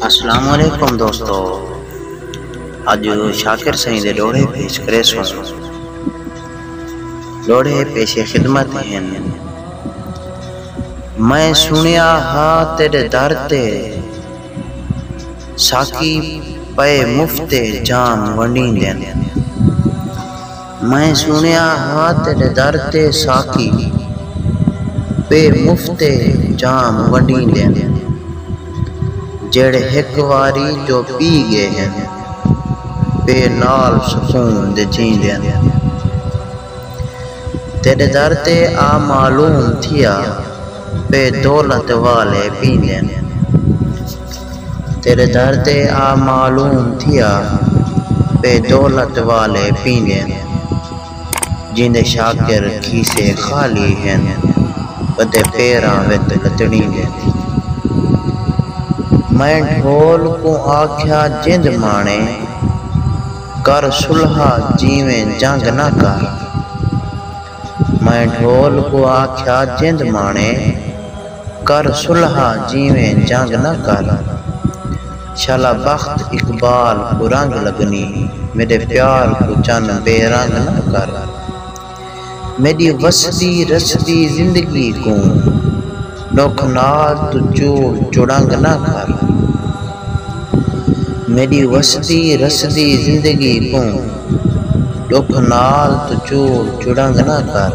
اسلام علیکم دوستو اج شاکر سائیں دے ڈوہڑے پیش کرے سوں ڈوہڑے پیش خدمت ہن میں سنیا ہا تیرے در تے ساقی پئے مفت جام ونڈیندن میں سنڑیا ہا تیڈے در تے ساقی بے مفت جام ونڈیندن جیڑھے ہک واری جو پی گئے ہن بے نال سکون دے جیندن تیڈے در تے آ معلوم تھیا بے دولت والے پیندن۔ تیݙے در تے آ معلوم تھیا پئے دولت والے پیندن جیندے شاکر کھیسے خالی ہن ودے پیراں وت لتڑیندن۔ میں ڈھول کوں آکھیا جند ماݨے کر سلہا جیویں جنگ نہ کر۔ میں ڈھول کوں آکھیا جند ماݨے۔ کر صلح جیویں جنگ نہ کر۔ شالا بخت اقبال کوں رنگ لگنی میݙے پیار کوں چن بے رنگ نہ کر۔ میݙی وسدی رسدی زندگی کوں ݙکھ نال توں چول چڑنگ نہ کر۔ میݙی وسدی رسدی زندگی کوں ݙکھ نال توں چول چڑنگ نہ کر۔